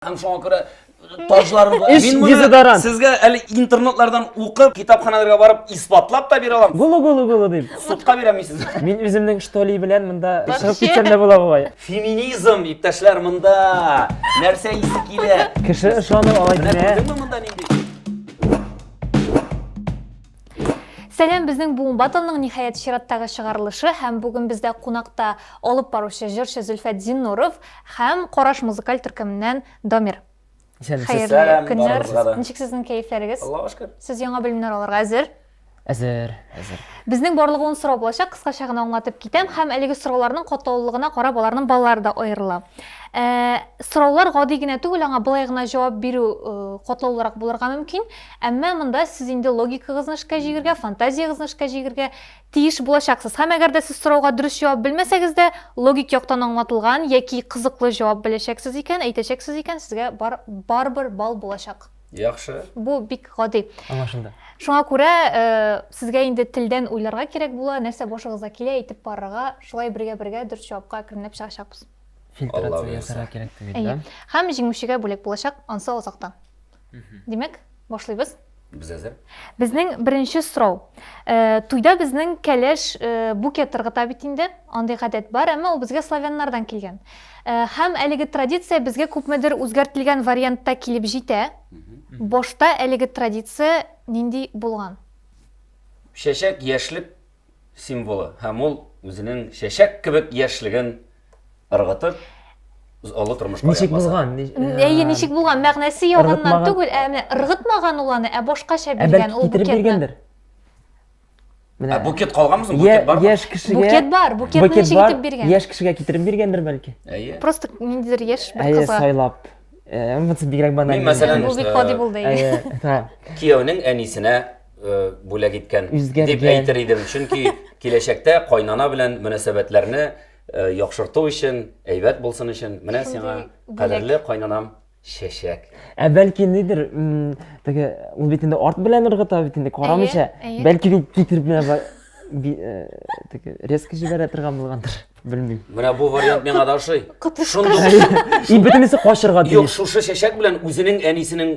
Һәм шуңа күрә таҗларын була. Эш Мин моны дезодорант. сезгә әле интернетлардан укып, китапханаларга барып исбатлап та бирә алам. Гулу гулу гулу дип. Судка бирәм сез. Мин үземнең штоли белән монда чыгып китсәм дә була бугай. Феминизм, иптәшләр, монда нәрсә исе килә? Кеше ышанып алай Менә димә. күрдеңме монда нинди? Сәлам безнең буын батылның ниһаять чираттагы чыгарылышы һәм бүген бездә кунакта алып баручы җырчы Зөлфәт Зиннуров һәм Караш музыкаль төркеменнән Дамир. Хәерле көннәр. Ничек сезнең кәефләрегез? Аллага шөкер. Сез яңа белемнәр алырга әзер? Әзер, әзер. Безнең барлыгы ун сорау булачак, кыскача гына аңлатып китәм һәм әлеге сорауларның катлаулылыгына карап аларның баллары да аерыла. Ә, сораулар гади генә түгел, аңа былай гына җавап бирү катлаулырак булырга мөмкин. Әмма монда сез инде логикагызны эшкә җигергә, фантазиягызны эшкә җигергә тиеш булачаксыз. Һәм әгәр дә сез сорауга дөрес җавап белмәсәгез дә, логик яктан аңлатылган яки кызыклы җавап беләчәксез икән, әйтәчәксез икән, сезгә бар, барыбер балл булачак. Яхшы. Бу бик гади. Аңлашылды. Шуңа күрә сезгә инде телдән уйларга кирәк була, нәрсә башыгызга килә, әйтеп барырга, шулай бергә-бергә дөрес җавапка әкренләп чыгачакбыз. Фильтрация ясарга кирәк түгел, да? Әйе. Һәм җиңүчегә бүләк булачак ансы азактан. Димәк, башлыйбыз. Без әзер. Безнең беренче сорау. Э, туйда безнең кәләш э, буке тыргыта бит инде. Андый гадәт бар, әмма ул безгә славяннардан килгән. Э, һәм әлеге традиция безгә күпмедер үзгәртелгән вариантта килеп җитә. Башта әлеге традиция нинди булган? Чәчәк яшьлек символы һәм ул үзенең чәчәк кебек яшьлеген ыргытып олы тормышка Ничек булган? Әйе, ничек булган? Мәгънәсе ягыннан түгел, ә менә ыргытмаган ул аны, ә башкача биргән ул букетны. Менә букет калганмы соң? Букет бар. Яшь кешегә букет бар. Букетны ничек итеп биргән? Яшь кешегә китереп биргәндер бәлки. Әйе. Просто ниндидер яшь бер кызга. Әйе, сайлап. Монысы бигрәк баналь. Мин мәсәлән, бу бик гади булды. Әйе. Кияүнең әнисенә э, бүләк иткән дип әйтер идем. Чөнки киләчәктә кайнана белән мөнәсәбәтләрне э, яхшырту өчен, әйбәт булсын өчен, менә сиңа кадерле кайнанам чәчәк. Ә бәлки нидер, теге ул бит инде арт белән ыргыта бит инде карамыйча. Бәлки дип китереп менә теге резко җибәрә торган булгандыр. Белмим. Менә бу вариант миңа да ошый. Шундый. И бөтенесе качырга тиеш. Юк, шушы чәчәк белән үзенең әнисенең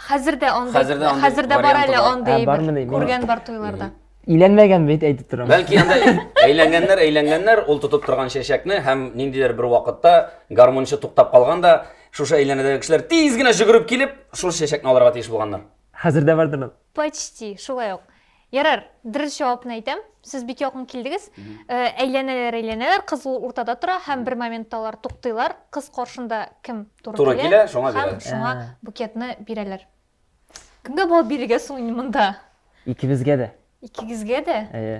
Хәзер дә андый, Хәзер дә андый хәзер дә бар варианты әле бар. андый Ә, әйбер. бармы ни? Күргән бар туйларда. Иләнмәгән бит әйтеп торам. Бәлки анда әйләнгәннәр, әйләнгәннәр, ул тотып торган чәчәкне һәм ниндидер бер вакытта гармунчы туктап калган да, шушы әйләнәдәге кешеләр тиз генә җөгереп килеп, шул чәчәкне алырга тиеш булганнар. Хәзер дә бардыр ул. Почти, шулай ук. Ярар, дөрес җавапны әйтәм. Сез бик якын килдегез. Э, әйләнәләр, әйләнәләр, кыз ул уртада тора һәм бер моментта алар туктыйлар. Кыз каршында кем туры, Туры килә, шуңа һәм бирә. шуңа Ә. букетны бирәләр. Кемгә бал бирергә соң инде монда? Икебезгә дә. Икегезгә дә? Әйе.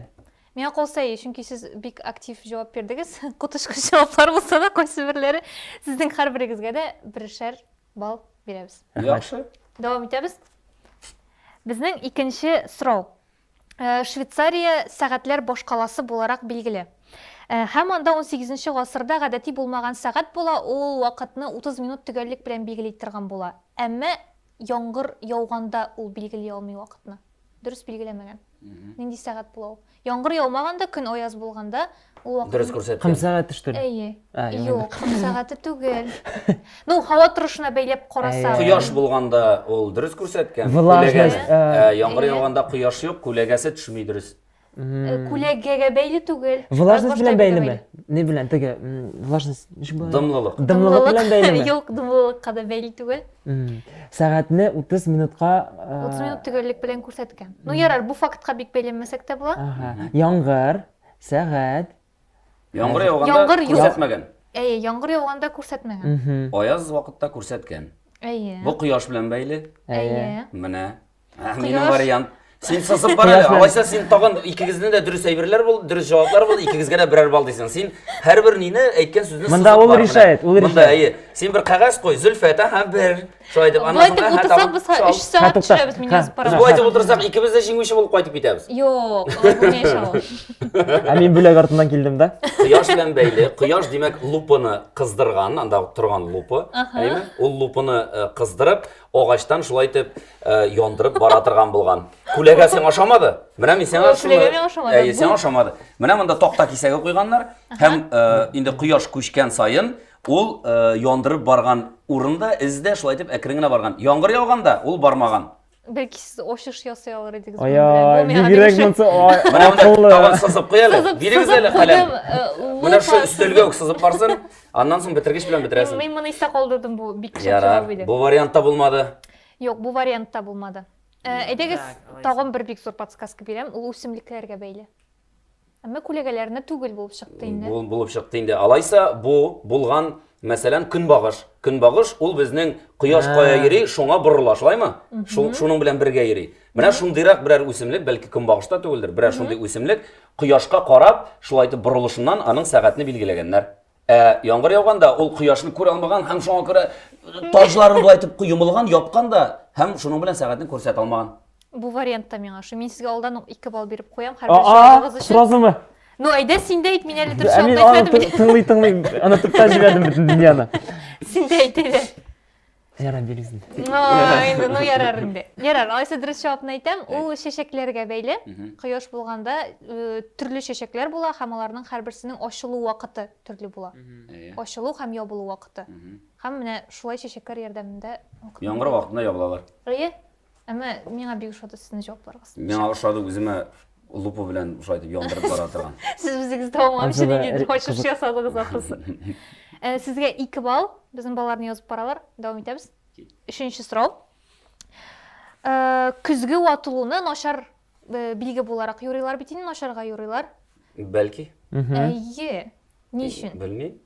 Миңа калса әйе, чөнки сез бик актив җавап бирдегез. Коточкыч җаваплар булса да, кайсы берләре сезнең һәрберегезгә дә берешәр балл бирәбез. Яхшы. Дәвам итәбез. Безнең икенче сорау. Э, Швейцария сәгатьләр башкаласы буларак билгеле. Э, һәм анда 18 гасырда гадәти булмаган сәгать була, ул вакытны 30 минут төгәллек белән билгели торган була. Әмма яңгыр яуганда ул билгели алмый вакытны. дөрес билгеләмәгән. Нинди сәгать була ул? Яңгыр яумаганда, көн аяз булганда, ул вакыт Дөрес күрсәткән. Кым сәгате что ли? Әйе. А, яңгыр. Юк, кым сәгате түгел. Ну, һава торышына бәйләп карасаң. Кояш булганда ул дөрес күрсәткән. Влажность, Күләгәне. а. Ә, Яңгыр Әйе. яуганда кояш юк, күләгәсе төшми дөрес. Күләгәгә бәйле түгел. Влажность белән бәйлеме? Не белән, теге влажность ничек була? Дымлылык. Дымлылык белән бәйлеме? Юк, дымлылыкка да бәйле түгел. Сәгатьне 30 минутка 30 минут төгәллек белән күрсәткән. Ну ярар, бу фактка бик бәйләнмәсәк тә була. Яңгыр, сәгать, Яңгыр яуганда Яңгыр яу- күрсәтмәгән. Әйе, яңгыр яуганда күрсәтмәгән. Мгм. Аяз вакытта күрсәткән. Әйе. Бу кояш белән бәйле. Әйе. Менә. Ә, Минем Кояш. вариант. Син сызып бар әле. Кояш белән. Алайса син тагын икегезне дә дөрес әйберләр булды, дөрес җаваплар булды, икегезгә дә берәр балл дисең. Син һәрбер нине әйткән сүзне Монда сызып ул бар менә. решает, ул Монда решает. әйе. Син бер кәгазь куй, Зөлфәт, аһа, бер. Шулай итеп, аннан соң хәтта утырсак, без 3 сәгать төшерәбез мине язып паровоз. Шулай итеп утырсак, икебез дә җиңүче булып кайтып китәбез. Юк, алай булмый иншалла. Ә мин бүләк артыннан килдем дә. Кояш белән бәйле. Кояш, димәк, лупаны кыздырган, анда торган лупа. Әйме? Ул лупаны э, кыздырып, агачтан шулай итеп э, яндырып бара торган булган. Күләгә сиңа ошамады? Менә мин сиңа шуны. Күләгә миңа ошамады. Әйе, сиңа ошамады. Менә монда такта кисәге куйганнар һәм э, инде кояш күчкән саен Ул яндырып барган урын да, эз дә шулай итеп әкрен генә барган. Яңгыр яуганда ул бармаган. Бәлки сез ачыш ясый алыр идегез. Ай, бигрәк монсы акыллы. Тагын сызып куй әле. Бирегез әле каләм. Менә шу өстәлгә үк сызып барсын. Аннан соң бетергеч белән бетерәсең. Мин моны истә калдырдым бу бик шәп җавап иде. Бу вариантта булмады. Юк, бу вариантта булмады. Әйдәгез, тагын бер бик зур подсказка бирәм, ул үсемлекләргә бәйле. Әмма күләгәләрне түгел булып чыкты инде. Бу булып чыкты инде. Алайса бу булган, мәсәлән, көнбагыш. Көнбагыш ул безнең кояш кая йөри, шуңа борыла, шулаймы? Шул шуның белән бергә йөри. Менә шундыйрак берәр үсемлек, бәлки көнбагыш та түгелдер, берәр шундый үсемлек кояшка карап, шулай итеп борылышыннан аның сәгатьне билгеләгәннәр. Ә яңгыр яуганда ул кояшны күрә алмаган һәм шуңа күрә таҗларын болай итеп йомылган, япкан да һәм шуның белән сәгатен күрсәтә алмаган. Бу вариант та миңа шу. Мин сезгә алдан ук 2 балл биреп куям һәр бер җавабыгыз өчен. Сразумы? Ну, әйдә син дә әйт, мин әле дөрес җавап әйтмәдем. Тыңлый, тыңлый, аны төптән җибәрдем бөтен дөньяны. Син дә әйт әле. Ярар, бирегез инде. Инде, ну ярар инде. Ярар, алайса дөрес җавапны әйтәм, ул чәчәкләргә бәйле. Кояш булганда төрле чәчәкләр була һәм аларның һәрберсенең ачылу вакыты төрле була. Ачылу һәм ябылу вакыты. Һәм менә шулай чәчәкләр ярдәмендә яңгыр вакытында ябылалар. Әйе. Әмма миңа бик ошады сезнең җавапларыгыз. Миңа ошады үземә лупа белән шулай итеп яндырып бара торган. Сез үзегез тәмамлап җиңелдән ачыш ясадыгыз ахрысы. Э, сезгә 2 балл. Безнең балаларны язып баралар. Дәвам итәбез. Өченче сорау. Э, көзге ватылуны начар э, билге буларак юрыйлар бит инде, начарга юрыйлар. Бәлки. Әйе. Ни өчен? Белмим.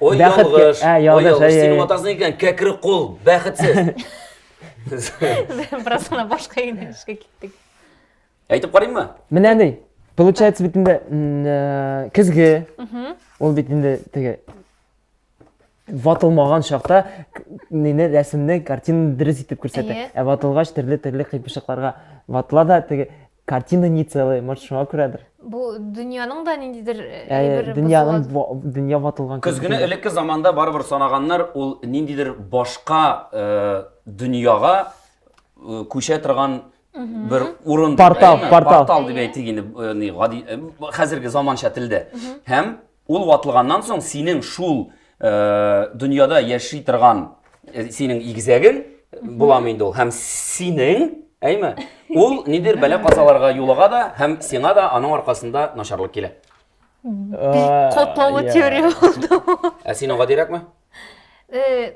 Ой, Бәхет ке- ялгыш. Ә, Ой, ялгыш, ялгыш. әй, Синең әй. атасың икән, кәкре кул, бәхетсез. Бераз гына башка юнәлешкә киттек. Әйтеп карыйммы? Менә ни. Получается бит инде м, э, көзге. Ул бит инде теге ватылмаган чакта к- нини рәсемне, картинаны дөрес итеп күрсәтә. Әйе. Ә ватылгач төрле-төрле кыйпышыкларга ватыла да теге Картина не целая, может, шуңа күрәдер. Бу дөньяның да ниндидер э, Ә, әйбер дөньяның бозылган. ва- дөнья ватылган Көз көне элекке заманда барыбер санаганнар ул ниндидер башка э, дөньяга э, күчә торган бер урын дип, Портал, әйеме? портал. портал дип әйтик инде э, ни, гади э, хәзерге заманча телдә һәм Ул ватылганнан соң синең шул дөньяда яши торган синең игезәгең буламы инде ул һәм синең әйме ул нидер бәлә казаларга юлыга да һәм сиңа да аның аркасында начарлык килә бик катлаулы теория булды ә син аңа дирәкме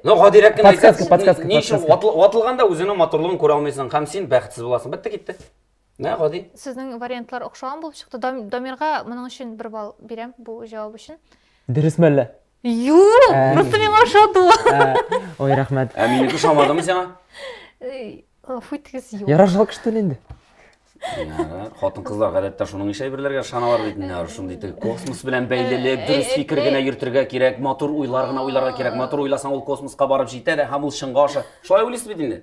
ну гадирәк кенә подсказка подсказка ни өчен ватылганда үзеңнең матурлыгын күрә алмыйсың һәм син бәхетсез буласың бетте китте Менә гади. Сезнең вариантлар охшаган булып чыкты. Дамирга моның өчен бер балл бирәм бу җавап өчен. Дөрес мәллә? Юк! Ә. Просто миңа ошады ул. Ә, Ой, рәхмәт. Ә минеке ошамадымы сиңа? Эй, Гафу итегез, юк. Ярар, шулай кышты инде. Ярар. Хатын-кызлар гадәттә шуның ише әйберләргә ышаналар бит инде. Ярар, шундый тел. Космос белән бәйлелек, Э, дөрес э, фикер э. генә йөртергә кирәк, матур уйлар гына уйларга кирәк. Матур уйласаң, ул космоска барып җитә дә һәм ул чынга аша. Шулай уйлыйсыз бит инде.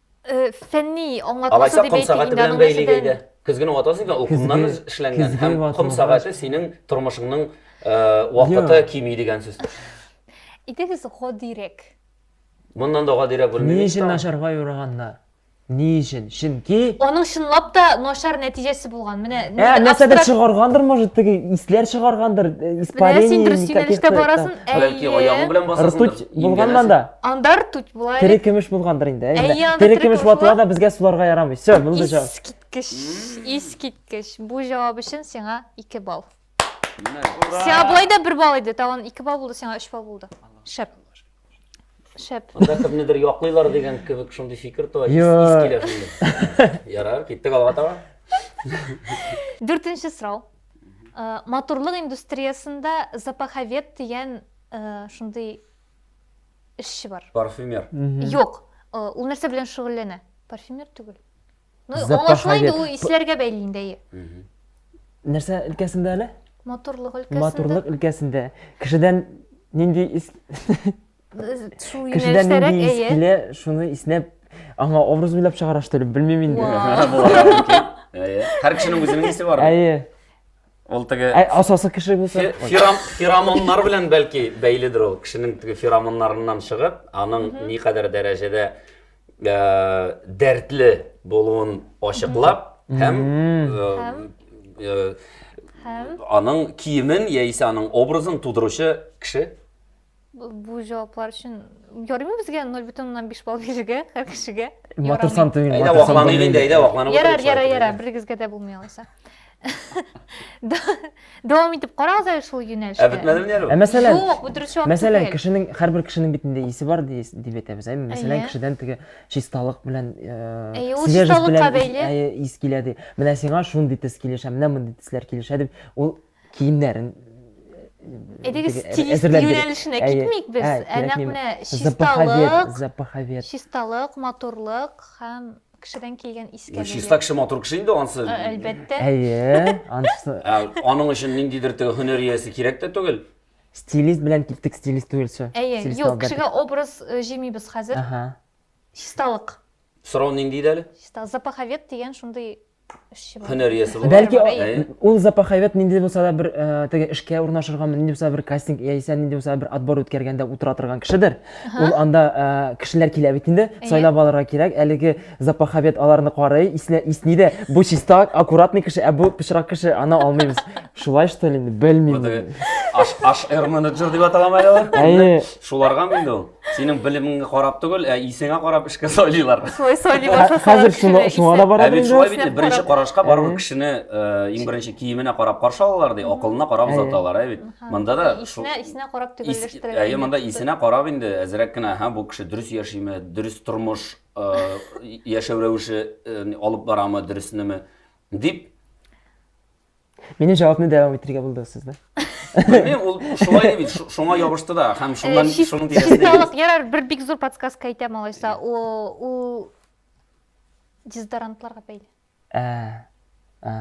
Э, фәнни аңлатмасы Алайса, дип ком сәгате белән бәйле гәйдә. Көзгене ватасың икән, ул кумнан эшләнгән һәм ком сәгате синең тормышыңның э, вакыты кими дигән сүз. Итегез гадирәк. Моннан да гадирәк белмим. Ни өчен начарга юраганнар? Ни өчен? Чөнки Аның чынлап та начар нәтиҗәсе булган. Менә Ә, нәрсәдер чыгаргандыр, может, теге исләр чыгаргандыр, э, испарение. Менә син дөрес юнәлештә барасың. Бәлки аягың белән басасың. Ртуть булганнан да. Андар туть була әле. Тере көмеш булгандыр инде. Әй, Әйе, анда тере тере көмеш көмеш ватыла була. да безгә суларга ярамый. Все, булды җавап. Искиткеч, искиткеч. Бу җавап өчен сиңа 2 балл. Сиңа болай да 1 балл иде, тагын 2 балл булды, сиңа 3 балл булды. Шәп. Шәп. Анда кемнедер яклыйлар дигән кебек шундый фикер туа. Ис Йо. ис килә шунда. Ярар, киттек алга таба. Дүртенче сорау. Э, Матурлык индустриясендә запаховед дигән э, шундый эшче бар. Парфюмер. Юк. Э, ул нәрсә белән шөгыльләнә? Парфюмер түгел. Ну, аңлашыла инде, ул исләргә бәйле инде, әйе. Нәрсә өлкәсендә әле? Матурлык өлкәсендә. Матурлык өлкәсендә. Кешедән нинди ис... Кешедән нинди ис килә, шуны иснәп, аңа образ уйлап чыгара, что ли, белмим инде. Һәр кешенең үзенең исе бар. Әйе. Ул теге Ә асасы кеше булса? фе- фером- феромоннар белән бәлки бәйледер ул. Кешенең теге феромоннарыннан чыгып, аның никадәр дәрәҗәдә э, дәртле булуын ачыклап һәм э, Һәм? э, Һәм аның киемен яисә аның образын тудыручы кеше Бу җаваплар өчен ярыймы безгә 0,5 балл бирергә һәр кешегә? Матур сан түгел. Әйдә вакланыйк инде, әйдә вакланып Ярар, ярар, ярар, берегезгә дә булмый алайса. Дәвам итеп карагыз әле шул юнәлештә. Ә бетмәдеме ни әле? Ә мәсәлән, юк, бу дөрес җавап Мәсәлән, кешенең һәрбер кешенең бит инде исе бар дип әйтәбез. Ә мәсәлән, кешедән теге чисталык белән э, свежесть белән ис килә ди. Менә сиңа шундый төс килешә, менә мондый төсләр килешә дип, ул киемнәрен Әйдәгез стилист юнәлешенә китмик без. Ә нәкъ менә чисталык, запаховед. Чисталык, матурлык һәм кешедән килгән искәлек. Чиста кеше матур кеше инде ансы. Әлбәттә. Әйе, ансы. Аның өчен ниндидер теге һөнәр иясе кирәк тә түгел. Стилист белән киттек, стилист түгелчә. Әйе, юк, кешегә образ җимибез хәзер. Чисталык. Сорау нинди иде әле? Чиста запаховед дигән шундый һөнәр иясе булып бәлки ул запаховед нинди булса да бер э, теге эшкә урнашырга нинди булса бер кастинг яисә нинди булса бер отбор үткәргәндә утыра торган кешедер ул анда э, кешеләр килә бит инде сайлап алырга кирәк әлеге запаховед аларны карый исне исни дә бу чиста аккуратный кеше ә бу пычрак кеше аны алмыйбыз шулай что ли белмим аш аш менеджер дип аталамы әле ул шуларгамы инде ул Синең белемеңне карап түгел, ә исеңә карап эшкә сайлыйлар. Шулай сайлый башласалар. Хәзер шуңа шуңа да бара бит. Шулай бит, беренче карашка барып кешене иң беренче киеменә карап каршы алалар ди, акылына карап озаталар, ә бит. Монда да исенә исенә карап төгәлләштерәләр. Әйе, монда исенә карап инде әзрәк кенә, һәм бу кеше дөрес яшиме, дөрес тормыш яшәү рәвеше алып барамы, дөресенеме дип Минем җавапны дәвам итергә булдыгыз сез, да? Белмим, ул шулай бит, шуңа ябышты да, һәм э, шуннан шуның тирәсендә. Чисталык, ярар, бер бик зур подсказка әйтәм алайса, ул дезодорантларга бәйле. Ә. Ә.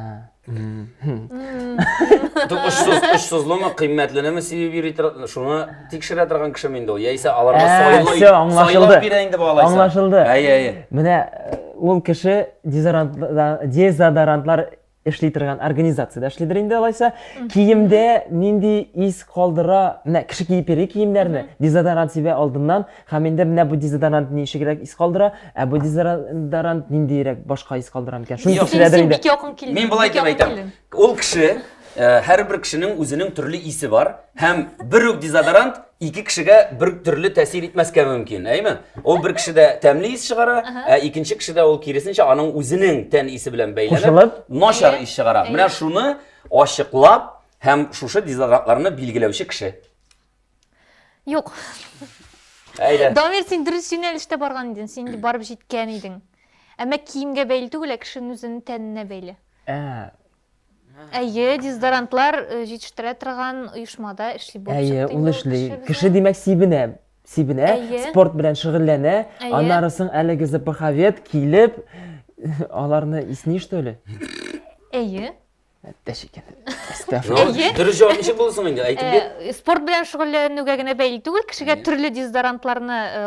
Ту очсыз, очсызлымы, кыйммәтлеме сибеп йөри торган, шуны тикшерә торган кеше инде ул. Яисә аларга ә, сайлый, сайлап бирә инде бу алайса. Аңлашылды. Әйе, әйе. Менә э, ул кеше дезодорантлар эшли торган организациядә эшлидер инде алайса киемдә нинди ис калдыра менә кеше киеп йөри киемнәрне дезодорант сибә алдыннан һәм инде менә бу дезодорант ничегрәк ис калдыра ә бу дезодорант ниндиерәк башка ис калдыра микән шуны тикшерәдер инде бик якын килдең мин болай дип әйтәм ул кеше һәрбер кешенең үзенең төрле исе бар һәм бер үк дезодорант ике кешегә бер төрле тәэсир итмәскә мөмкин, әйме? Ул бер кешедә тәмле ис чыгара, ә икенче кешедә ул киресенчә аның үзенең тән исе белән бәйләнеп, начар ис чыгара. Менә шуны ачыклап һәм шушы дезодорантларны билгеләүче кеше. Юк. Әйдә. Дамир, син дөрес юнәлештә барган идең, син барып җиткән идең. Әмма киемгә бәйле түгел, ә кешенең үзенең тәненә бәйле. Ә, Әйе, дезодорантлар э, җитештерә торган оешмада эшли булып Әйе, чыкты ул инде эшли. кеше безнең. Кеше димәк сибенә. Сибенә, Әйе. спорт белән шөгыльләнә. Әйе. Аннары соң әлеге запаховед килеп аларны исни что ли? Әйе. Әттәш икән. Әстәфирулла. Ну, Әйе. Дөрес җавап ничек булды соң инде? Әйтеп бир. Э, Спорт белән шөгыльләнүгә генә бәйле түгел, кешегә төрле дезодорантларны э,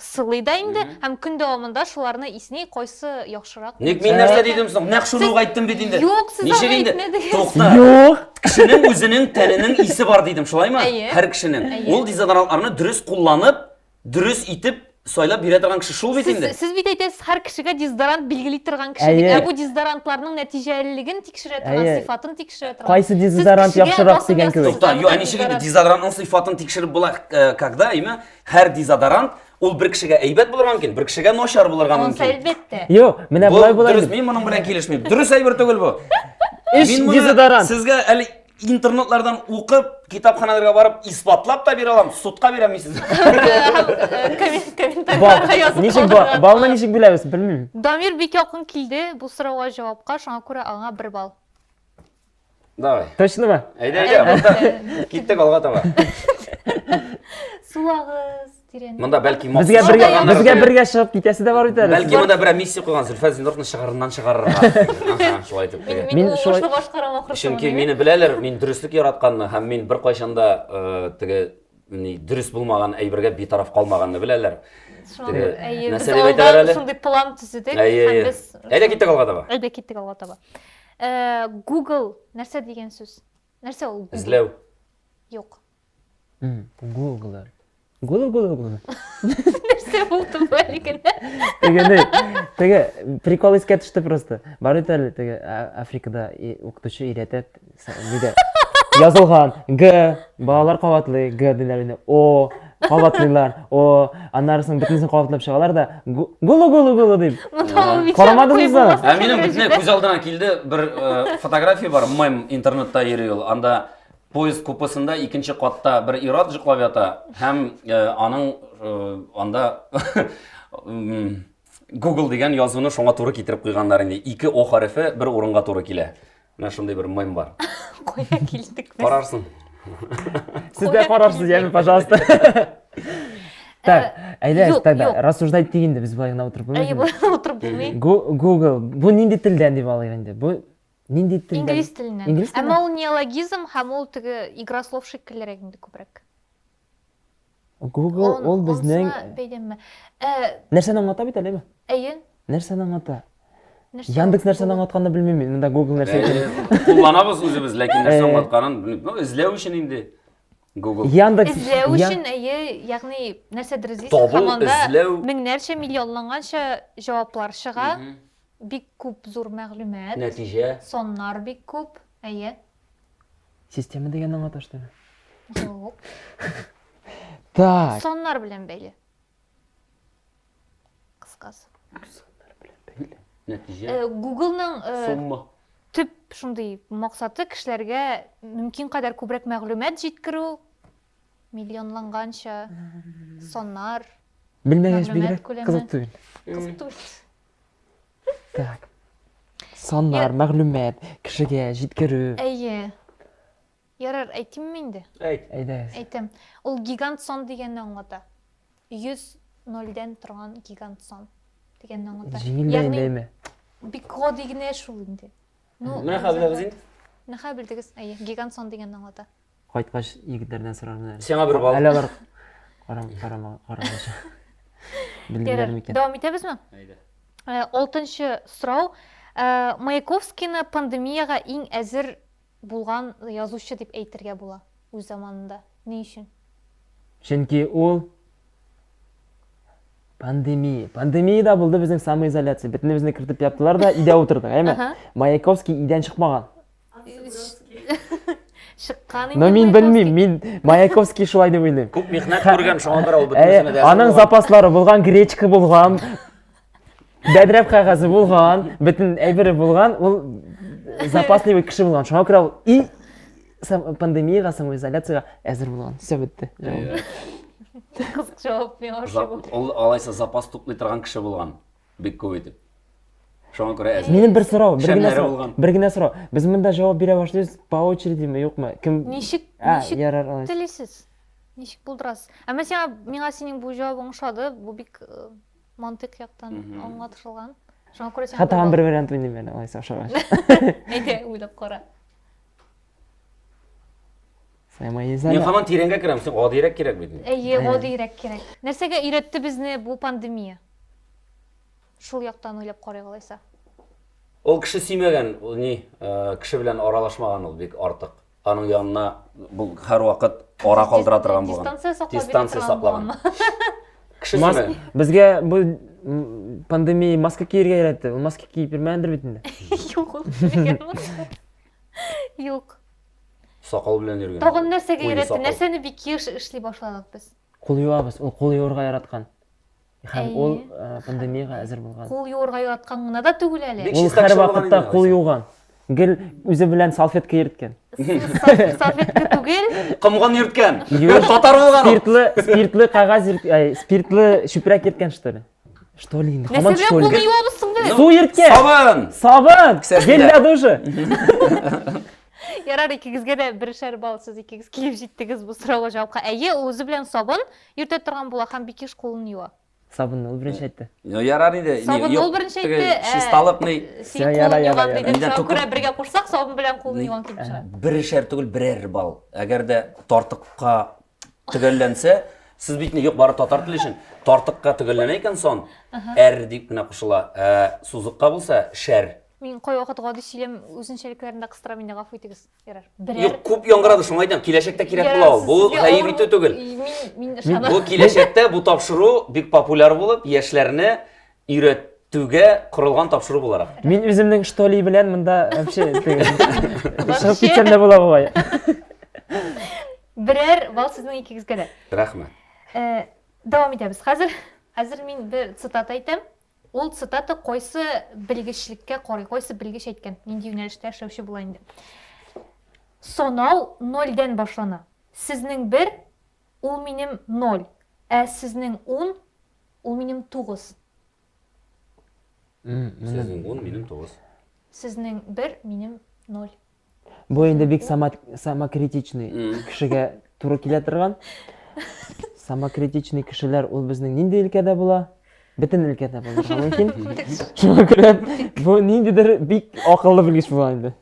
сылый да инде һәм көн дәвамында шуларны исни, кайсы яхшырак. Ник мин нәрсә дидем соң? Нәкъ шуны ук әйттем бит инде. Юк, сез Ничек аны инде? әйтмәдегез. Тукта. Юк. Кешенең үзенең тәненең исе бар дидем, шулаймы? Әйе. Һәр кешенең. Әйе. Ул дезодорантларны дөрес кулланып, дөрес итеп сайлап бирә торган кеше шул бит Сез, инде. сез бит әйтәсез, һәр кешегә дезодорант билгели торган кеше дип. Әйе. Ә бу дезодорантларның нәтиҗәлелеген тикшерә торган, Әйе. сыйфатын тикшерә торган. Кайсы дезодорант Сез кешегә яхшырак басым дигән ясыйсыз кебек. Тукта, аны юк, ә ничек инде дезодорант. дезодорантның сыйфатын тикшереп була, э, когда имя? Һәр дезодорант ул бер кешегә әйбәт булырга мөмкин, бер кешегә начар булырга Монсы мөмкин. әлбәттә. Юк, менә Бу болай болай. дөрес, дип. мин моның белән килешмим. Дөрес әйбер түгел бу. Эш Мин моны дезодорант. сезгә әле интернетлардан укып, китапханаларга барып исбатлап та бирә алам, судка бирәм мин сезгә. Э, коммен- Бал. Комментарийларга язып Ничек бал? калдырырга Балны була. ничек биләбез, белмим. Дамир бик якын килде бу сорауга җавапка, шуңа күрә аңа бер балл. Давай. Точно ма? Әйдә, әйдә, монда киттек алга таба. Сулагыз, тирән. Монда бәлки махсус Безгә бергә, чыгарганнар безгә өчен. бергә чыгып китәсе дә бар бит әле. Бәлки монда берәр миссия куйган Зөлфәт Зинуровны шыгарыннан чыгарырга. Аха, Шулай итеп. Мин, Мин мин шулай- шулай... башкарам ахрысы. Чөнки мине беләләр, мин дөреслек яратканны һәм мин беркайчан да э, теге ни дөрес булмаган әйбергә битараф калмаганны беләләр. Теге, Әйе, без нәрсә дип әйтәләр әле? алдан шундый план төзедек. Әйе, һәм әйе. без- Әйдә киттек алга таба. Әйдә киттек алга таба. Э, Google нәрсә дигән сүз? Нәрсә ул? Google? Эзләү. Юк. М, Google. Google, Google, Google. Нәрсә булды бу әлеге? Теге не, теге прикол искә төште просто. Бар бит әле теге а- Африкада и- укытучы өйрәтә с- нидә. Язылган Г, балалар кабатлый Г диләр инде. О, кабатлыйлар о аннары соң бөтенесен кабатлап чыгалар да гулу гулу гулу дип карамадыңыз да ә минем бөтенләй күз алдына килде бер э, фотография бар мем интернетта йөри ул анда поезд купесында икенче катта бер ир-ат җыклап ята һәм э, аның э, анда Google дигән язуны шуңа туры китереп куйганнар инде. Ике О хәрефе бер урынга туры килә. Менә шундый бер мем бар. Кая килдек без? Карарсың. Сез дә карарсыз, яме, пожалуйста. Так, э, әйдә, так да, рассуждать итик инде без былай гына утырып булмый. Әйе, былай утырып булмый. Google, бу нинди телдән дип алыйк инде? Бу нинди телдән? Инглиз теленнән. Әмма ул неологизм һәм ул теге игра слов шикеллерәк инде күбрәк. Google ул безнең бәйләнмә. Нәрсәне аңлата бит әлеме? Әйе. Нәрсәне аңлата? Яндекс нәрсәне аңлатканны белмим мин. Монда Google нәрсә икән. Кулланабыз үзебез, ләкин нәрсә аңлатканын белмим. Ну, эзләү өчен инде. Google. Яндекс эзләү өчен, әйе, ягъни нәрсәдер эзлисең, команда меңнәрчә, миллионланганча җаваплар чыга. Бик күп зур мәгълүмат. Нәтиҗә. Соннар бик күп. Әйе. Система дигәнне аңлаташтымы? Юк. Так. Саннар белән бәйле. Кыскасы. Саннар белән бәйле. Нәтиҗә. Э, Google-ның э, сумма. Төп шундый максаты кешеләргә мөмкин кадәр күбрәк мәгълүмат җиткерү, Миллионланганча саннар, Белмәгәч мәгълүмат бигрәк күләме. кызык түгел. Кызык түгел. Так. Саннар, мәгълүмат, кешегә җиткерү. Әйе. Ярар, әйтимме инде? Әйт. Әйдәгез. Әйтәм. Ул гигант сон дигәнне аңлата. 100 нольдән торган гигант сон дигәнне аңлата. Җиңел дә инде әйме? бик гади генә шул инде. Ну, Менә хәзер без инде. Нәхә белдегез? Әйе, гигант сон дигәнне аңлата. Кайткач егетләрдән сорармын әле. Сиңа бер бал. Әле алар карам карама карамыйча. Белдиләр микән? Дәвам итәбезме? Әйдә. Э, алтынчы сорау. Э, Маяковскийны пандемиягә иң әзер булган язучы дип әйтергә була үз заманында. Ни өчен? Чөнки ул пандемия. Пандемия да булды безнең самоизоляция. Бөтенебезне кертеп яптылар да, өйдә утырдык, әйме? Маяковский өйдән чыкмаган. чыккан инде мин белмим мин маяковский шулай дип уйлыйм күп михнәт күргән шуңа күрә ул бөтенесенә дә аның запаслары булган гречка булган бәдрәп кәгазе булган бөтен әйбере булган ул запасливый кеше булган шуңа күрә ул и пандемияга самоизоляцияга әзер булган все бетте кызык җавап миңа ошый алайса запас туплый торган кеше булган Бик күп итеп. Шуңа күрә әзер. Минем бер сорау, бер генә сорау. Бер генә сорау. Без монда җавап бирә башлыйбыз по очереди ме, юкмы? Кем Ничек, ничек ярар алайс. Телисез. Ничек булдырасыз? Ә мәсәлән, миңа синең бу җавабың ошады. Бу бик э, мантык яктан аңлатылган. Шуңа күрә син. Хатаган бер вариант уйныйм әле, алайса ошагач. Әйдә, уйлап кара. Саймайыз әле. Мин хаман тирәнгә керәм, соң гадиерәк кирәк бит. Әйе, гадиерәк кирәк. Нәрсәгә өйрәтте безне бу пандемия? Шул яктан уйлап карыйк алайса. Ул кеше сөймәгән, ул ни, э, кеше белән аралашмаган ул бик артык. Аның янына бу һәрвакыт ара калдыра торган булган. Дистанция саклап Дистанция торган саклаган. булганмы? Кеше Мас... сөймәгән. Безгә бу м, пандемия маска киергә өйрәтте. Ул маска киеп йөрмәгәндер бит инде. Юк, ул кешегә булмады. Юк. Сакал белән йөргән. Тагын нәрсәгә Куе өйрәтте? сакал. Нәрсәне бик еш эшли башладык без? Кул юабыз, ул кул юырга яраткан. Һәм Әйе. ул э, пандемиягә әзер булган. Кул юырга яраткан гына да түгел әле. Бик Ул чиста һәр кеше булган вакытта инде, кул Алиса. юган. Гел үзе белән салфетка йөрткән. Сал- Салфетка түгел. Комган йөрткән. Юеш. Татар булган ул. Спиртлы, спиртлы кәгазь, йөрт- әй, спиртлы чүпрәк йөрткән что ли? Что ли инде? Хамат что ли? Нәрсә белән соң без? Су ирткә. Сабын. Сабын. Гелләде уже. Ярар, икегезгә дә бершәр балл сез икегез килеп җиттегез бу сорауга җавапка. Әйе, үзе белән сабын йөртә торган була һәм бик еш кулын юа. Сабынны ул беренче әйтте. Ярар инде. Сабынны ул беренче әйтте. Чисталык ни? Син кулын юган диде. Шуңа күрә бергә кушсак, сабын белән кулын юган килеп чыга. Бершәр түгел, берәр балл. Әгәр дә тартыкка төгәлләнсә, сез бит юк бары татар теле өчен. Тартыкка төгәлләнә икән сон, әр дип кенә кушыла. Ә сузыкка булса, шәр. Мин кай вакыт гади сөйләм үзенчәлекләрендә кыстырам инде, гафу итегез. Ярар. Берәр. Юк, күп яңгырады, шуңа әйтәм, киләчәктә кирәк була ул. Бу хәер итү түгел. Мин мин ышанам. Бу киләчәктә бу тапшыру бик популяр булып, яшьләрне өйрәтүгә корылган тапшыру буларак. Мин үземнең что ли белән монда вообще чыгып китсәм дә була бугай. Берәр бал сезнең икегезгә дә. Рәхмәт. Э, дәвам итәбез. Хәзер хәзер мин бер цитата әйтәм. Ул цитата кайсы белгечлеккә карый, кайсы белгеч әйткән, нинди юнәлештә эшләүче була инде. Сонау нольдән башлана. Сезнең бер, Ул минем ноль, ә сезнең ун, ул минем тугыз. Сезнең ун, минем тугыз. Сезнең бер, минем ноль. Бу инде бик самокритичный кешегә туры килә торган. Самокритичный кешеләр ул безнең нинди өлкәдә була? бөтен өлкәдә булырга мөмкин шуңа күрә бу ниндидер бик акыллы белгеч була инде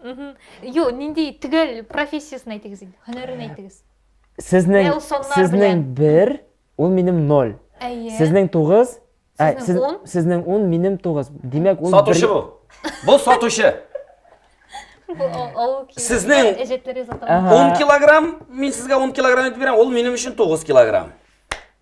юк нинди төгәл профессиясен әйтегез инде һөнәрен әйтегез Сезнең, Менә ул саннар сезнең белән. бер, ул минем ноль. Әйе. Сезнең тугыз, ә, Сезнең сез- ун. сезнең ун, минем тугыз. Димәк, ул Сатучы бер- бу. Бу сатучы. Бу ал- алу килеш. Сезнең- Әҗәтләр язылган. Ага. 10 килограмм, мин сезгә 10 килограмм итеп бирәм, ул минем өчен 9 килограмм.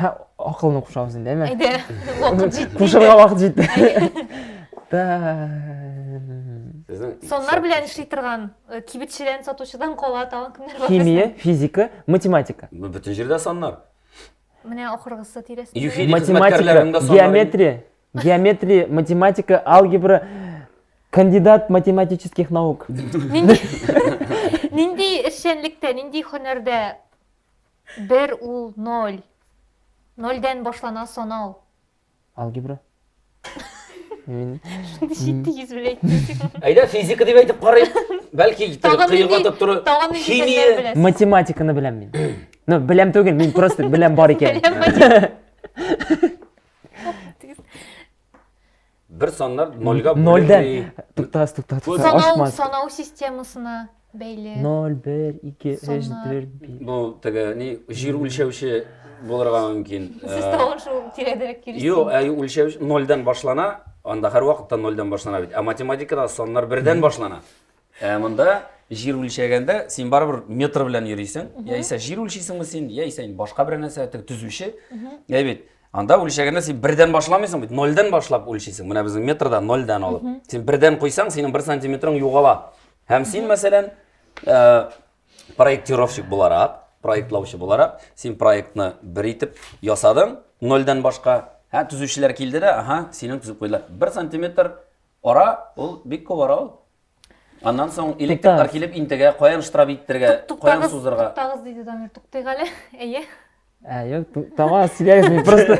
Һә, акылны кушабыз инде, әйме? Әйдә, вакыт җитте. Кушырга вакыт җитте. Соннар белән эшли торган, э, кибетчедән, сатучыдан кала тагын кемнәр бар? Химия, физика, математика. Бөтен җирдә соннар. Менә ахыргысы тирәсе. Математика, геометрия, геометрия, математика, алгебра, кандидат математических наук. Нинди эшчәнлектә, нинди һөнәрдә Бер ул ноль. Нольдән башлана санау. Алгебра. Мин Җитди йөз белән әйтте. Әйдә физика дип әйтеп карыйк. Бәлки Тагын кыйга нинди- тотып тору. тагын нинди фәннәр Химия. беләсез? математиканы беләм мин. Ну, беләм түгел, мин просто беләм бар икән. Беләм, математика. Бер саннар нольга Нольдән. бүленми. Тукта, тукта, тукта. Санау, Ашмас. санау системасына бәйле. 0, 1, 2, 3, Саннар. 4, 5. Бу теге ни җир үлчәүче булырга мөмкин. Сез Э, тагын шул тирәдерәк килесез. Юк, ә үлчәү нольдән башлана, анда һәрвакытта нольдән башлана бит. Ә математикада саннар бердән башлана. Ә монда җир үлчәгәндә син барыбер метр белән йөрисең. Яисә җир үлчисеңме син, яисә инде башка бер нәрсә, теге төзүче. Ә бит анда үлчәгәндә син бердән башламыйсың бит, нольдән башлап үлчисең. Менә безнең метрда нольдән алып. Син бердән куйсаң, синең бер сантиметрың югала. Һәм син, мәсәлән, э, проектировщик буларак, проектлаучы буларак, син проектны бер итеп ясадың, нольдән башка. Һә, төзүчеләр килде дә, ага, синең төзеп куйдылар. Бер сантиметр Ара, ул бик күп ара ул. Аннан соң электриклар килеп интегә, каян штраф иттергә, каян сузырга. Туктагыз диде Дамир, туктыйк әле. Әйе. Ә, юк, тама сөйләгез мин просто.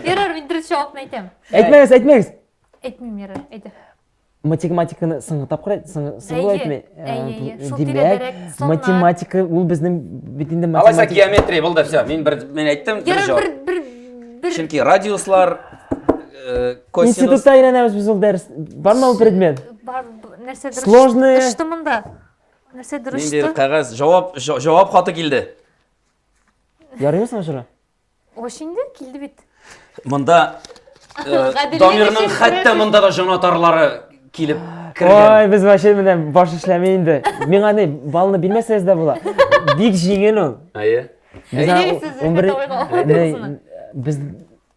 Ярар, мин дөрес җавапны әйтәм. Әйтмәгез, әйтмәгез. Әйтмим, ярар, әйтә. Математиканы соңгы тапкыр әйт, соңгы әйтмә. Әйе, шул тирәдәрәк. Математика ул безнең бит инде математика. Алайса геометрия булды, все. Мин бер мен әйттем, дөрес җавап. Бер бер бер Чөнки радиуслар, Институтта өйрәнәбез без ул дәрес. Бармы ул предмет? Бар, нәрсә дөрес? Сложный. Өчте монда. Нәрсә дөрес? Ниндидер кәгазь, җавап, җавап хаты килде. Ярыймы соң шура? Ош инде килде бит. Монда Дамирның хәтта монда да җанатарлары килеп кергән. Ой, без вообще менә баш эшләми инде. Миңа ни, балны бирмәсәгез дә була. Бик җиңел ул. Әйе. Без 11 без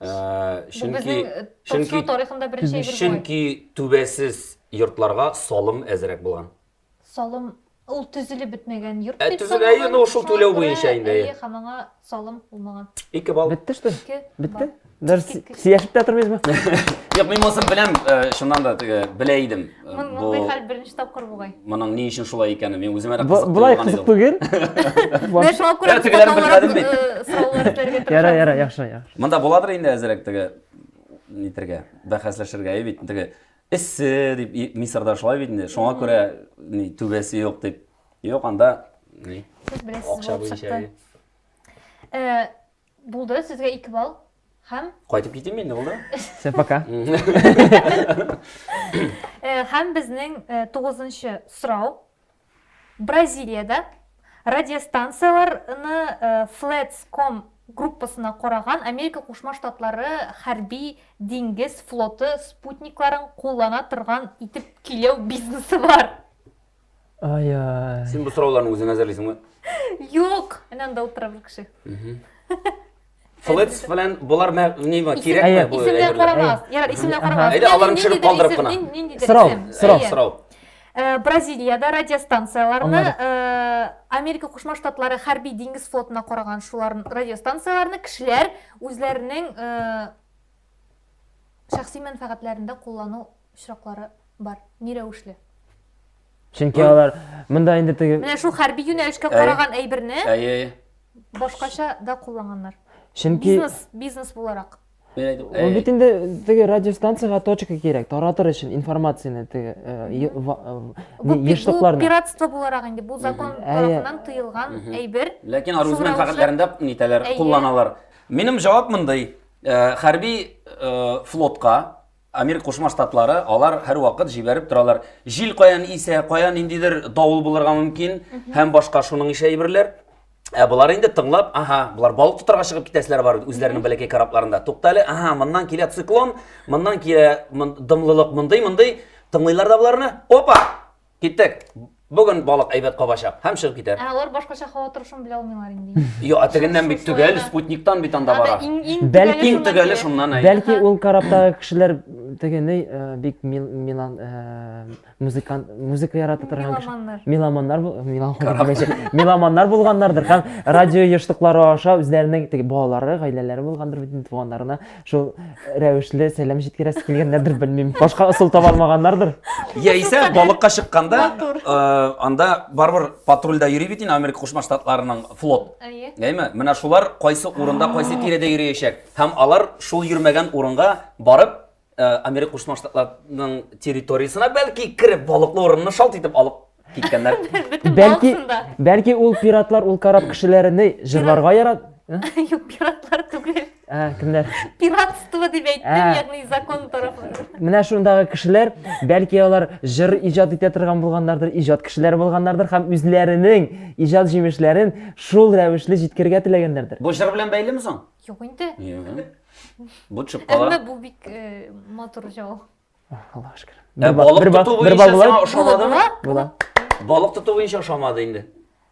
чөнки чөнки тарихында беренче әйбер чөнки түбәсез йортларга салым әзрәк булган салым ул төзелеп бетмәгән йорт ә, дип төзел, әйе, ну, шул түләү буенча инде, әйе. һәм аңа салым булмаган ике балл бетте что бетте даже сөйләшеп тә тормыйсызмы Юк, мин монысын беләм, э, чыннан да теге белә идем. Мондый хәл беренче тапкыр бугай. Моның ни өчен шулай икәне мин үземә дә кызык. Булай кызык түгел. Менә шуңа күрә тегеләрен белмәдем бит. Сораулар бирергә тырышам. Яра, яра, яхшы, яхшы. Монда буладыр инде әзрәк теге нитергә, бәхәсләшергә бит. Теге эссе дип Мисырда шулай бит инде. Шуңа күрә ни түбәсе юк дип. Юк, анда ни? Сез беләсез. Акча буенча. Э, Булды, сезгә ике балл һәм... Кайтып китим инде, булды? Все, пока. Э, һәм безнең э, тугызынчы сорау. Бразилиядә радиостанцияләрне э, Flats.com группасына караган Америка Кушма Штатлары хәрби диңгез флоты спутникларын куллана торган итеп киләү бизнесы бар. Ай-ай. Син бу сорауларны үзең әзерлисеңме? Юк! Менә анда утыра бер кеше. Флетс белән болар мә- нема кирәкме Әйе. бу Исемнәр әйберләр? карамас. Ярар, исемнәр Әһә. карамас. Әйдә, аларны төшереп калдырып кына. Сорау, сорау, Әйе. Сорау. Э, Бразилиядә радиостанцияләрне Аннары? э, Америка Кушма Штатлары хәрби диңгез флотына караган шулар радиостанцияләрне кешеләр үзләренең э, шәхси мәнфәгатьләрендә куллану очраклары бар. Ни рәвешле? Чөнки Ой. алар монда инде теге Менә шул хәрби юнәлешкә Әй. караган әйберне Әйе, әйе. башкача да кулланганнар. чөнки Бизнес, бизнес буларак. Мин әйтеп, ул әй, бит инде теге радиостанциягә точка кирәк, таратыр өчен информацияне теге э, е- ва- э, Бу, не- пи- бу ешлыкларны. пиратство буларак инде. Бу закон Әйе. тарафыннан тыелган Мгм. әйбер. Ләкин Шул аргумент рәвешле- фәкатьләрендә нитәләр, Әйе. кулланалар. Минем җавап мондый. Э, Хәрби э, флотка Америка Кушма Штатлары, алар һәрвакыт җибәреп торалар. Җил каян исә, каян ниндидер давыл булырга мөмкин һәм башка шуның ише әйберләр. Ә болар инде тыңлап, ага, болар балык тотарга чыгып китәселәр бар үзләренең бәләкәй корабларында. Туктале, ага, моннан килә циклон, моннан килә дымлылык мондый, мондый. Тыңлыйлар да боларны. Опа! Киттек. Бүген балык әйбәт кабачак һәм чыгып китәр. Ә алар башкача һава торышын белә алмыйлар инде. Йо, ә тегеннән бит төгәл спутниктан бит анда бара. Бәлки иң төгәле шуннан әйе. Бәлки ул караптагы кешеләр тегене э, бик милан э, музыкант музыка ярата торган кеше. Меломаннар. Меломаннар меломаннар булганнардыр һәм радио ештыклары аша үзләренең теге балалары, гаиләләре булгандыр бит туганнарына шул рәвешле сәлам җиткерәсе килгәннәрдер белмим башка ысул таба алмаганнардыр яисә балыкка чыкканда э, анда барыбер патрульдә йөри бит инде америка кушма штатларының флот әйме менә шулар кайсы урында кайсы тирәдә йөриячәк һәм алар шул йөрмәгән урынга барып э, америка кушма штатларының территориясенә бәлки кереп балыклы урынны шалт итеп алып Киткәннәр. Бөтен Бәлки, балсын да. бәлки ул пиратлар ул карап кешеләрне җырларга ярат. Ә? Юк, пиратлар түгел. Ә, кемнәр? Пиратство дип әйттем, Ә. ягъни закон тарафы. Менә шундагы кешеләр, бәлки алар җыр иҗат итә торган булганнардыр, иҗат кешеләре булганнардыр һәм үзләренең иҗат җимешләрен шул рәвешле җиткерергә теләгәннәрдер. Бу җыр белән бәйлеме соң? Юк инде. Юк. Бу чыпкалар. Әмма бу бик э, матур җал. Аллаһ шөкер. Ә балык бер тоту бер буенча сиңа ошамадымы? Була. Балык тоту буенча ошамады инде.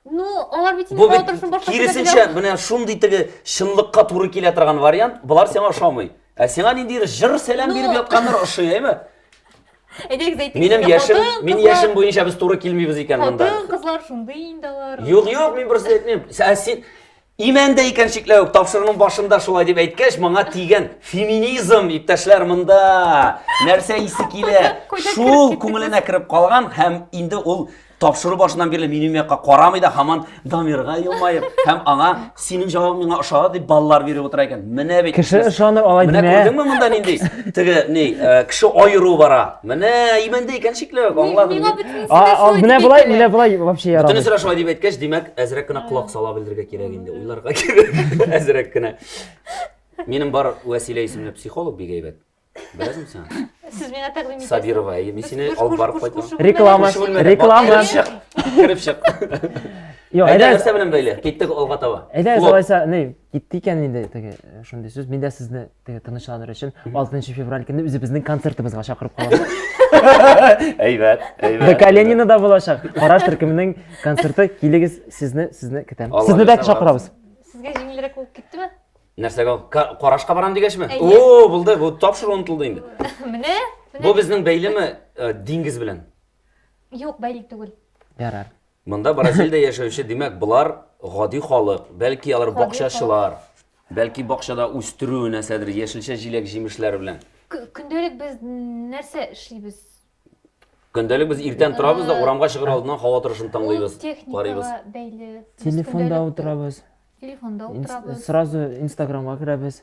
Ну, алар бит инде балык тотышын башка Киресенчә, менә шундый теге чынлыкка туры килә торган вариант, болар сиңа ошамый. Ә сиңа ниндидер жыр сәлам ну. биреп ятканнар ошый, әйме? Әйдәгез әйтик. Минем яшем, мин яшем буенча без туры килмибез икән монда. Хатын кызлар шундый инде алар. Юк, юк, мин берсе әйтмим. Ә син Имән дә икән шикләү, тапшыруның башында шулай дип әйткәч, моңа тигән феминизм, иптәшләр, монда нәрсә исе килә? Шул күңеленә кереп калган һәм инде ул тапшыру башыннан бирле минем якка карамый да һаман Дамирга елмаеп һәм аңа синең җавабың миңа ошады дип баллар биреп утыра икән. Менә бит. Кеше ышаныр алай димә. Менә күрдеңме монда нинди? Теге ни, э, кеше аеру бара. Менә имәндә икән шикләү, аңладым. Миңа бөтенесе дә шулай. Менә болай, менә болай вообще ярамый. Бөтенесе дә шулай дип әйткәч, димәк, әзрәк кенә колак сала белергә кирәк инде, уйларга кирәк, әзрәк кенә. Минем бар Вәсилә исемле психолог бик әйбәт. Беләсең сен? Сез миңа тәкъдим итәсез. Сабирова, әйе, мин сине алып барып кайтам. Реклама, реклама. Кереп чык. Йо, әйдә, нәрсә белән бәйле? Киттек алга таба. Әйдә, алайса, ни, китте икән инде теге э, шундый сүз. Мин дә сезне теге тынычланыр өчен 6 февраль көнне үзебезнең концертыбызга чакырып калабыз. Әйбәт, әйбәт. Бә Калинина да булачак. Караш төркеменең концерты килегез, сезне сезне көтәм. Сезне дә чакырабыз. Сезгә җиңелрәк булып киттеме? Нәрсәгә? Карашка барам дигәчме? О, булды, бу тапшыру онтылды инде. Менә. Бу безнең бәйлеме э, диңгез белән? Юк, бәйле түгел. Ярар. Монда Бразилиядә яшәүче, димәк, болар гади халык, бәлки алар Гади бакчачылар, бәлки бакчада үстерү нәрсәдер, яшелчә җиләк-җимешләр белән. Кө- Көндәлек без н- нәрсә эшлибез? Көндәлек без иртән торабыз да урамга чыгыр алдыннан һава торышын Ул тыңлыйбыз, техникага карыйбыз. бәйле. Без Телефонда көндәлек утырабыз. Телефонда Инс- утырабыз. Сразу Инстаграмга керәбез.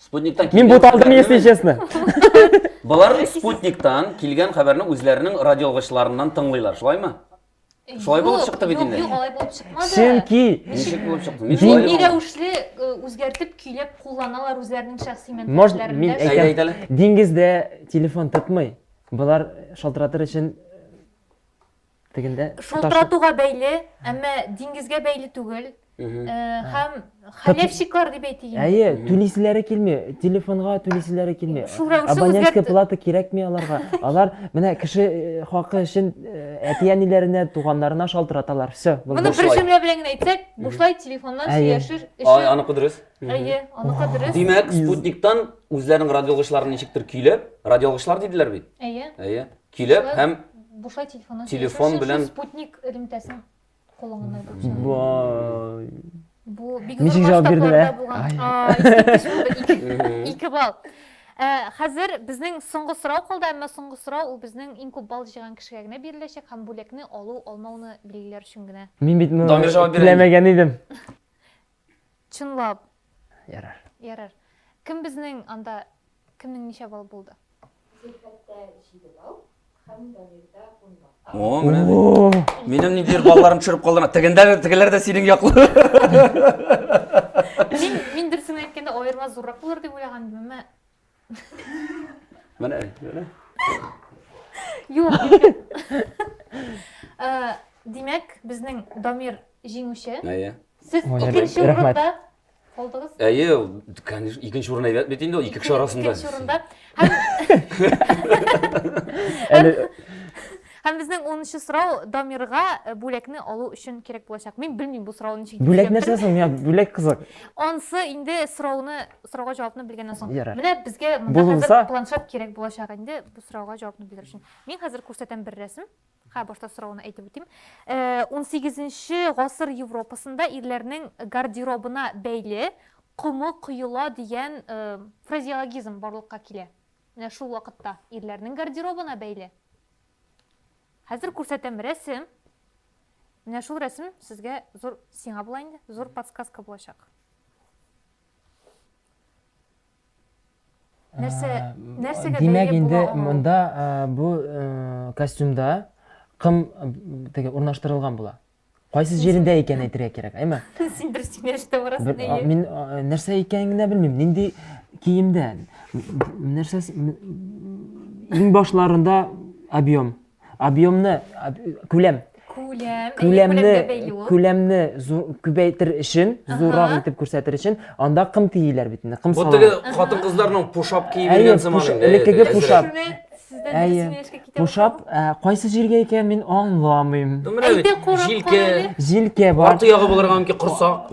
Спутниктан Мин бу талды не если честно. Болар спутниктан килгән хәбәрне үзләренең радиоалгычларыннан тыңлыйлар, шулаймы? Шулай булып чыкты бит инде. Юк, алай булып чыкмады. Чөнки ничек булып чыкты? Мин шулай Дини рәвешле э, үзгәртеп, көйләп кулланалар үзләренең шәхси мәнфәгатьләрендә. Әйдә, әйдә әле. Диңгездә телефон тотмый. Болар шалтыратыр өчен Тегендә таш- Шалтыратуга бәйле, әмма диңгезгә бәйле түгел. Мгм. Э, Һәм хәләфчиклар дип әйтик инде. Әйе, түлиселәре килми, телефонга түлиселәре килми. Шул рәвешле Абонентская үзгәрт- плата кирәкми аларга. Алар менә кеше э, хакы өчен э, әти-әниләренә, туганнарына шалтыраталар. Все, Моны булды. бер Бушлай. җөмлә белән генә әйтсәк, бушлай телефоннан Әйе. сөйләшер Ай, өчен. аныкы дөрес. Әйе, аныкы дөрес. Димәк, спутниктан үзләренең радиоалгычларын ничектер көйләп, радиоалгычлар диделәр бит. Әйе. Әйе. Килеп һәм бушлай телефоннан телефон белән спутник элемтәсен кулланганнар булса. Бай. Бу бик Ничек җавап бирделәр? Ике балл. Э, хәзер безнең соңгы сорау калды, әмма соңгы сорау ул безнең иң күп балл җыйган кешегә генә биреләчәк һәм бүләкне алу, алмауны билгеләр өчен генә. Мин бит моны теләмәгән идем. Чынлап. Ярар. Ярар. Кем безнең анда кемнең ничә балл булды? Зөлфәттә җиде балл һәм Дамирда ун балл. О, менә бит. Минем ниндидер балларым төшереп калдың. Тегендә тегеләр дә синең яклы. Мин мин дөресен әйткәндә аерма зуррак булыр дип уйлаган идем, әмма Менә, менә. Юк. Э, Димәк, безнең Дамир җиңүче. Әйе. Сез Мөнир, икенче рәхмәт. урында булдыгыз. Әйе, ул, конечно, икенче урын әйбәт бит инде ул ике кеше арасында. Икенче урында. Һәм, Әле һәм безнең 10 сорау Дамирга э, бүләкне алу өчен кирәк булачак. Мин белмим бу сорауны ничек бүләк нәрсә соң? Миңа бүләк кызык. Ансы инде сорауны сорауга җавапны белгәннән соң Ярар. менә безгә монда Булынса- хәзер планшет кирәк булачак инде бу сорауга җавапны бирер өчен мин хәзер күрсәтәм бер рәсем ха башта сорауны әйтеп үтим Э, унсигезенче гасыр европасында ирләрнең гардеробына бәйле комы коела дигән э, фразеологизм барлыкка килә менә шул вакытта ирләрнең гардеробына бәйле хәзер күрсәтәм рәсем менә шул рәсем сезгә зур сиңа була инде зур подсказка булачак Нәрсә, Ә, нәрсәгә Димәк, бәйле инде була аңа? монда ә, бу ә, костюмда кым ә, теге урнаштырылган була. Кайсы җирендә икән әйтергә кирәк, әйме? Син дөрес киңәштә барасың Бер, а, әйе. мин а, нәрсә икәнен генә белмим. Нинди киемдә? М- Нәрсә иң башларында объем. объемны күләм күләм күләмне күләмне күбәйтер өчен зуррак итеп күрсәтер өчен анда кым тииләр бит инде кым салалар теге хатын кызларның пушап киеп йөргән заманы инде элеккеге пушап әйе пушап кайсы җиргә икән мин аңламыйм җилкә җилкә бар арты ягы булырга мөмкин корсак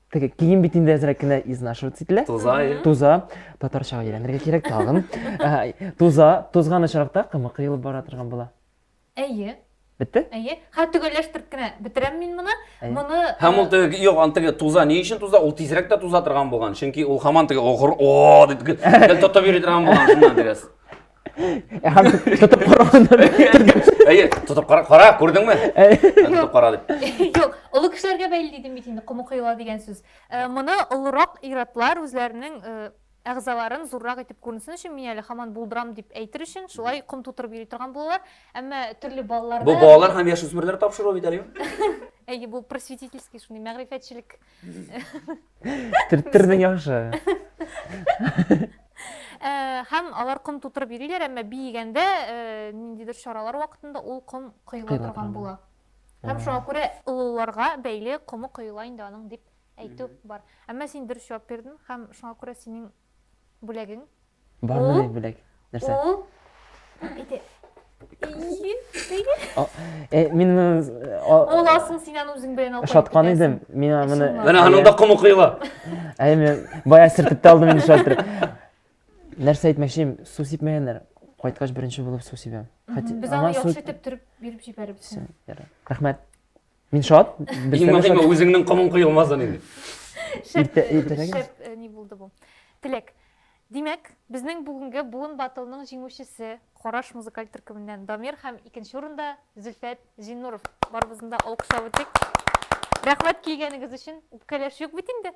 Теге кием бит инде әзрәк кенә изнашиваться ителә. Туза, иә. Туза. Татарчага әйләнергә кирәк тагын. Ә, Туза, тузган очракта кымы кыелып бара торган була. Әйе, Бетте? әйе. Ха, төгәлләштереп кенә бетерәм мин моны. Әйе. Моны Һәм ул теге, юк, аны теге туза, ни өчен туза? Ул тизрәк тә туза торган булган. Чөнки ул хаман теге огыр, о, дип гел тотып йөри торган булган шуннан дигәс. Һәм тотып караганда Әйе, тотып кара, кара, күрдеңме? Тотып кара дип. Юк, олы кешеләргә бәйле дидем бит инде, кому кыйла дигән сүз. Э, моны олырак иратлар үзләренең э, әгъзаларын зуррак итеп күренсен өчен мин әле хаман булдырам дип әйтер өчен шулай ком тутырып йөри торган булалар. Әмма төрле балаларда Бу балалар һәм яшүсмерләр тапшыруы бит әле. Әйе, бу просветительский шундый мәгърифәтчелек Төрттердең яхшы. Ә, һәм алар ком тутырып йөриләр, әмма биегәндә ә, ниндидер чаралар вакытында ул ком коела Коела торган торган. була. Һәм шуңа күрә олыларга бәйле комы коела инде аның дип әйтү бар. Әмма син дөрес җавап бирдең һәм шуңа күрә синең Бүләгең? Бар менә бүләк. Нәрсә? Ул ите. Э, мин э, Ул асын синен үзең белән алып шаткан идем. Мин аны Менә аның да комы кыйла. Әй, мен бая сертеп тә алдым инде шалтыр. Нәрсә әйтмәкче, су сипмәгәннәр. Кайткач беренче булып су сибәм. Без аны яхшы итеп төреп биреп җибәрбез. Рәхмәт. Мин шат. Иң мөһиме үзеңнең комың коелмасын инде. Шәп, шәп э, ни булды бу. Теләк. Димәк, безнең бүгенге буын батылның җиңүчесе Караш музыкаль төркеменнән Дамир һәм икенче урында Зөлфәт Зиннуров. Барыбызны да алкышлап үтик. Рәхмәт килгәнегез өчен. Үпкәләш юк бит инде.